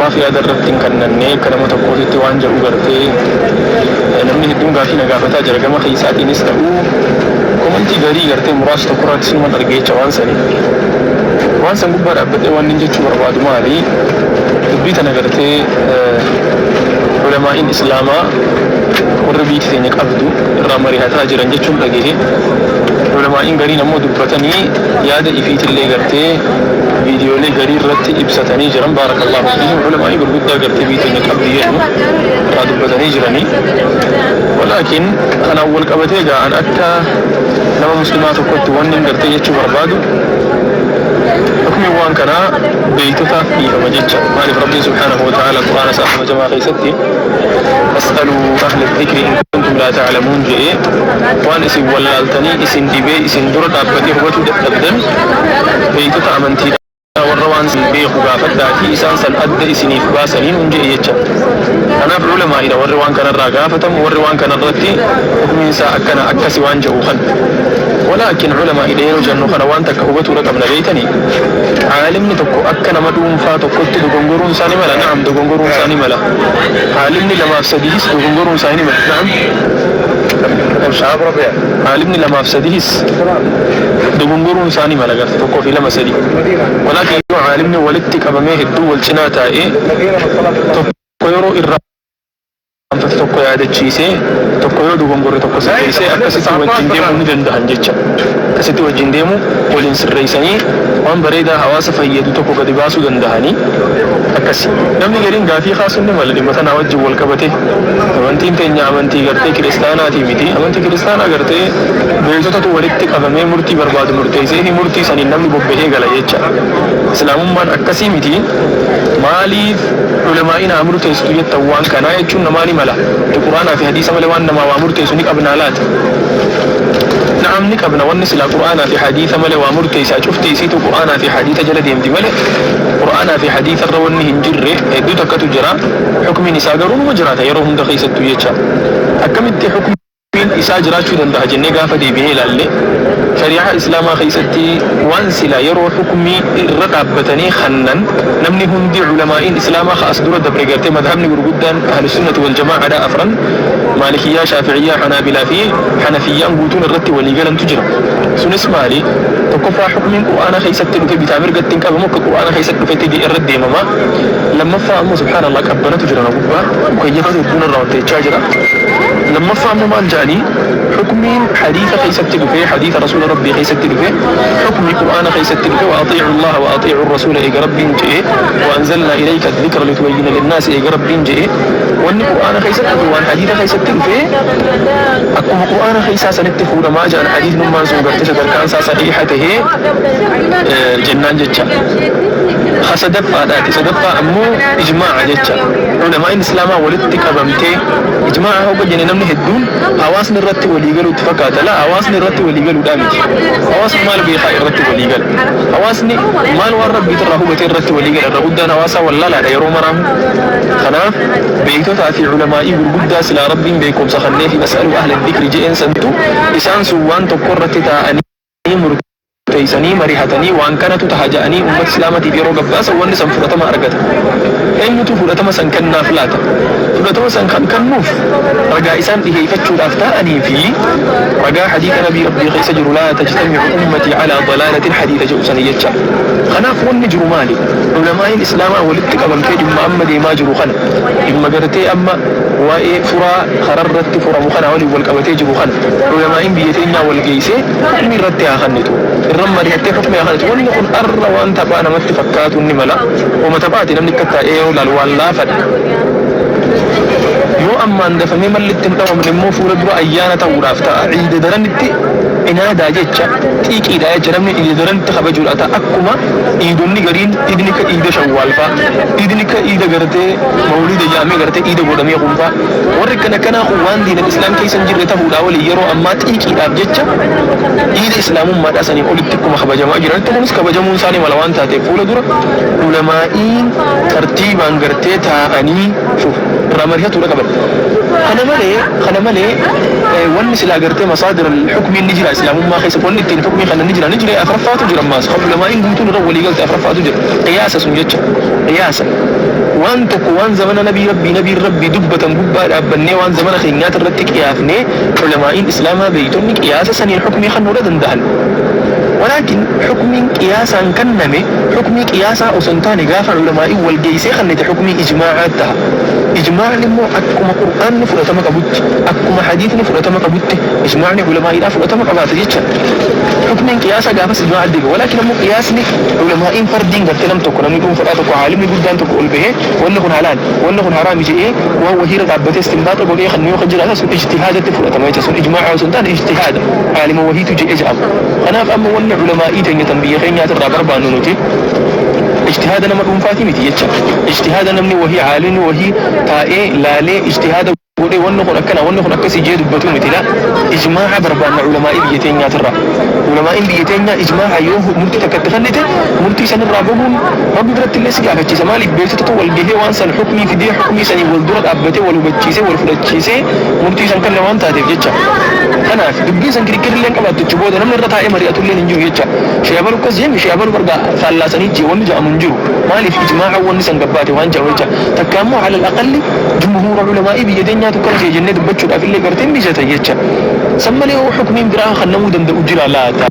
Maaf yaada irratti hin kannanne akka nama tokkootitti waan jedhu gartee namni hedduun gaaffii na gaafataa jira gama keessaatiinis ta'u komantii garii gartee muraasa tokko irratti sinuman arge jecha waan sani waan san gubbaa dhaabbadhee waan nin jechuu barbaadu maali dubbii tana gartee ulamaa'iin islaamaa warri biiti teenya qabdu irraa marihataa jiran jechuun dhagehe ulamaa'iin gariin ammoo dubbatanii yaada ifiitillee gartee Viidiyoolee garii irratti ibsatanii jiran baarakallaahu fiihim ulamaa'ii gurguddaa gartee biyyi teenya qabdi jedhu irraa dubbatanii jirani walaakin kanaan wal qabatee egaa an akka nama muslimaa tokkotti wannin gartee jechuu barbaadu hukmiin waan kanaa beeytotaaf dhiifama jecha maaliif rabbiin subhaanahu wa ta'aala qur'aana isaa kabajamaa keessatti fas'aluu ahla dhikri in kuntum laa ta'lamuun jedhee waan isin wallaaltanii isin dhibee isin dura dhaabbatee hubatuu dadhabdan beektota amantiidhaa warra waan san beeku gaafadhaatii isaan san adda isiniif baasanii nuun je'e jecha. Kanaaf ulamaa'idha warri waan kanarraa gaafatamu warri waan kanarratti hukmiin isaa akkana akkasi waan je'u kan. Walaakin ulamaa'idha yeroo jennu kana waan takka hubatuudha qabna beektanii caalimni tokko akka nama dhuunfaa tokkotti dogongoruun isaa ni mala na'am dogongoruun isaa ni mala caalimni lamaaf sadiihis dogongoruun isaa ni mala na'am. Shaaf Rabia. caalimni lamaaf sadiihis dogongoruun isaa ni mala gaaffii tokkoo fi lama sadii walaakin yoo caalimni walitti qabamee hedduu wal cinaa taa'ee tokko yeroo irraanfate tokko yaadachiisee tokko yoo dogongore tokko sirreessee akkasitti wajjiin deemuu ni danda'an jecha akkasitti wajjiin deemuu waliin sirreessanii waan bareedaa hawaasa fayyadu tokko gadi baasuu danda'anii akkasi namni gariin gaaffii kaasuun ni mala dhimma tanaa wajjiin wal qabatee amantiin teenya amantii gartee kiristaanaatii miti amantii kiristaanaa gartee Beektotatu walitti qabamee murtii barbaadu murteesseefi murtii saniin namni bobbahee gala jecha. Islaamummaan akkasii miti. Maaliif Ulamaa'iin haa murteessitu jettan waan kanaa jechuun namaa ni mala. Nuti Qur'aanaafi Hadiisa malee waan namaa waa murteessu ni qabnaa laata? Na'am ni qabna. Wanni silaa Qur'aanaafi Hadiisa malee waa murteessaa cufti isiituu Qur'aanaafi Hadiisa jala deemti malee Qur'aanaafi Hadiisa irra wanni hin jirre hedduu takkatu jira. Hukmiin isaa garuu numa jiraata yeroo hunda keessattuu jecha. Akkamitti hukmii. Daliilli isaa jiraachuu danda'a jennee gaafa deebinee ilaalle, shari'aa islaamaa keessatti waan silaa yeroo hukmii irra dhaabbatanii kannan namni hundi ulamaa'iin islaamaa ka as dura dabre garte madhabni gurguddaan ahlusunnati waljamaa'adhaa afran maalikiyyaa, shaafi'iyyaa, hanaabilaa fi hanafiyyaan guutuun irratti walii galantu jira. Sunis maali? Tokkoffaa hukmiin qur'aana keessatti dhufe bitaa mirgatti hin qabamu akka qur'aana keessatti dhufetti irra deemama. Lammaffaa ammoo subhaanallah qabbanatu jira na gubbaa mukayyafatu hedduun irraa ol teechaa jira. Lammaffaa immoo maal ja'anii hukmiin hadiisa keessatti dhufe hadiisa rasuula rabbii keessatti dhufe hukmi qur'aana keessatti dhufe wa axiicu allaha wa axiicu arrasuula eega rabbiin je'e wa anzalnaa ilayka addikra litubayyina linnaasi eega rabbiin je'e wanni qur'aana keessatti dhufe waan hadiisa keessatti dhufe akkuma qur'aana keessaa sanitti fuudhamaa ja'an hadiisnummaan sun gartee sadarkaan isaa sahiiha tahee jennaan jecha ha sadaffaadhaati sadaffaa ammoo ijmaa'a jecha ulamaa'in islaamaa walitti qabamtee Ijmaa'aa hogga jenne namni hedduun hawaasni irratti walii galu itti fakkaata. Laa hawaasni irratti walii galuudhaa miti. Hawaasni maal beekaa irratti walii gala. Hawaasni maal waan rabbiit irraa hubate irratti walii gala. Irra guddaan hawaasaa wallaalaadha yeroo maraahu. Kanaaf beektotaa fi ulamaa'ii gurguddaa silaa rabbiin beekumsa kanneefi fas'aluu ahla dikri je'een santu isaan sun waan tokko irratti taa'anii jedhanii murteeysanii marihatanii waan kanatu taha ja'anii ummata islaamatiif yeroo gabbaasan wanni san fudhatama argata. Eenyutu fudhatama san kennaaf laata? Fudhatama san kan kennuuf ragaa isaan dhiheeyfachuudhaaf taa'anii fii ragaa hadiitha nabii rabbii keeysa jiru laa tajtamicu ummatii calaa dalaalatin hadiitha je'u sanii jecha. Kanaaf wanni jiru maali? Ulamaa'iin islaamaa walitti qabamtee dhimma amma deemaa jiru kana, dhimma gartee amma waa'ee furaa kararratti furamu kanaa waliin wal qabatee jiru kana, Ulamaa'iin biyya teenyaa wal geessee hukmii irratti haa kannitu, irra mari'attee hukmii haa kannitu, wanni kun arra waan taphaa namatti fakkaatuun ni mala, homa taphaati namni akka taa'ee yoo laalu waan laafadha. Yoo ammaan dafamee malli itti hin dhawamne immoo fuula dura ayyaana ta'uudhaaf ta'a, iida daran itti inaadaa jecha, xiiqiidha jecha namni iida daran itti kabajuudha ta'a, akkuma iidonni gariin iidni akka iida shawwaal fa'a, iidni akka iida gartee mawuliida jedhamee gartee iida godhamee kun fa'a. Warri akkan akkanaa kun waan diinan Islaam keessa hin jirre tahuudhaa waliin yeroo ammaa xiiqiidhaaf jecha diina Islaamummaadhaa saniin olitti akkuma kabajamaa jiranitti kunis kabajamuun isaa ni mala waan taateef fuula dura ulamaa'iin tartiibaan gartee taa'anii shuf irraa marihatuudha qaban. Kana malee kana malee wanni silaa gartee masaadir al-hukmiin ni jira Islaamummaa keessa wanni ittiin hukmii kanan ni jira ni jira afraffaatu jira ammaas kan ulamaa'iin guutuun irra walii galte afraffaatu jira qiyaasa sun jecha qiyaasa. Waan tokko waan zamana nabii rabbii nabiin rabbii dubbatan gubbaa dhaabbannee waan zamana keenyaati irratti qiyaafnee ulamaa'iin islaamaa beeytonni qiyaasa saniin hukmii kannuudha dandahan. Walaakin hukmiin qiyaasaan kanname hukmii qiyaasaa osoo hin taane gaafa ulamaa'iin wal geeysee kannite hukmii ijmaa'aa taha. Ijmaa'ni immoo akkuma qur'aanni fudhatama qabutti, akkuma hadiisni fudhatama qabutti ijmaa'ni ulamaa'iidhaa fudhatama qabaata jecha. Hukmiin qiyaasaa gaafas ijmaa'atti deebi'a. Walaakin ammoo qiyaasni. Ulamaa'iin fardiin gartee nam tokko, namni dhuunfadhaa tokko, aalimni guddaan tokko ol bahee wanni kun halaal, wanni kun haraami je'ee waan wahiirra dhaabbatee istinbaaxa godhee kennu yoo ka jiraate sun ijtihaadatti fudhatama jecha. Sun ijmaa'a osoo hin taane ijtihaada. Aalima wahiitu je'e je'ama. Kanaaf amma wanni ulamaa'ii teenya tan biyya keenyaatirraa barbaannu nuti ijtihaada nama dhuunfaatii miti jecha. Ijtihaada namni wahii, aalimni wahii taa'ee laalee ijtihaada. godhee wanni kun akkana wanni kun akkasii jee dubbatuu miti laa ijmaa'a barbaanna ulamaa'ii biyya teenyaatirraa ulamaa'iin biyya teenyaa ijmaa'a yoo murtii takka itti kannite murtii sanirraa bahuun rabbi birattillee si gaafachiisa maaliif beektotatu wal gahee waan san hukmii fidee hukmii saniin wal dura dhaabbatee wal hubachiisee wal fudhachiisee murtii san kanne waan taateef jecha kanaaf dubbiin san kirikkirillee hin qabaattu achi booda namni irra taa'ee mari'atullee hin jiru jecha shee abalu akkas jeen shee abalu barga faallaa sanii jee wanni ja'amu hin jiru maaliif ijmaa'a wanni san gabbaate waan ja'amu jecha takka ammoo alal aqalli Jumhuura ulamaa'ii biyya teenyaatu akkana jedhe jennee dubbachuudhaaf illee gartee hin mijatan jecha. San malee hoo hukmiin biraa kannamuu danda'u jiraa laata?